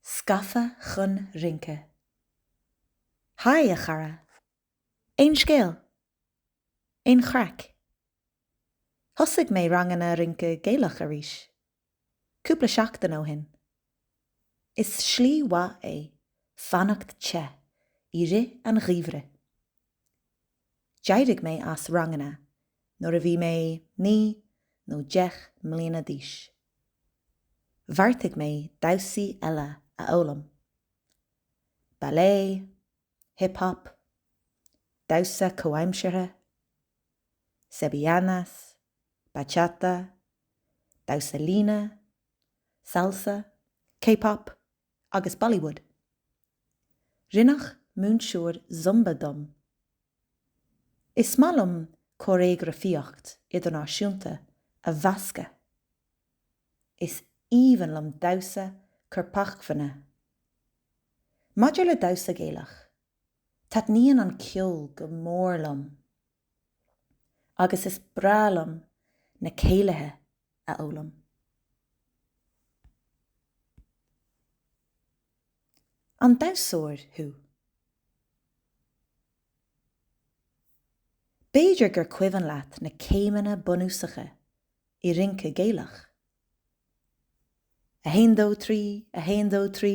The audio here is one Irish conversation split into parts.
Scafa chun rince. Haigh a chara! Aon scéal? Aon chraic? Thosaigh mé ranganna rince Gaelach arís cúpla seachtain ó shin. Is slí mhaith é fanacht te i rith an gheimhridh. D'éirigh mé as ranganna nuair a bhí mé naoi nó deich mbliana d'aois. Bheartaigh mé damhsaí eile a fhoghlaim, ballet, hip hop, damhsa comhaimseartha, sevillanas, bachata, damhsa líne, salsa, k-pop agus bollywood, Rinneadh múinteoir Zumba díom. Is maith liom cóiréagrafaíocht idirnáisiúnta a mheascadh. Is aoibhinn liom damhsa corpacmhainne. Maidir le damhsa Gaelach, taitníonn an ceol go mór liom. Agus is breá liom na céilithe a fhoghlaim. An damhsóir thú? B'fhéidir gur cuimhin leat na céimeanna bunúsacha i rince Gaelach? A haon dó trí, a haon dó trí.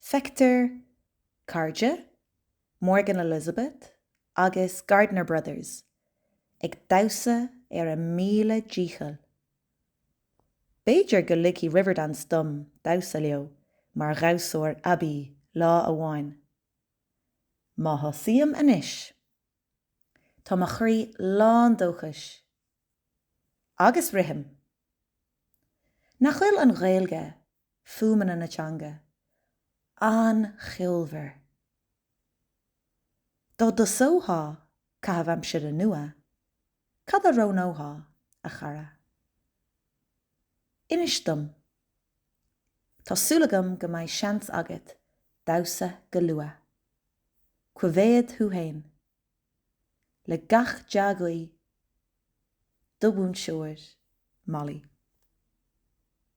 Feictear Cairde, Morgan Elizabeth agus Gardiner Brothers ag damhsa ar a míle dícheall. B'fhéidir go ligfidh Riverdance dom damhsa leo mar dhamhsóir aibí lá amháin. Má thosaím anois, tá mo chroí lán dóchais. Agus rithim. Nach bhfuil an Ghaeilge fuaimeanna na teanga. An-cheolmhar. Dá dtosófá caitheamh aimsire nua, cad a roghnófá, a chara? Inis dom. Tá súil agam go mbeidh seans agat damhsa go luath. Coimhéad thú fhéin. Le gach dea-ghuí, do mhúinteoir, Molly.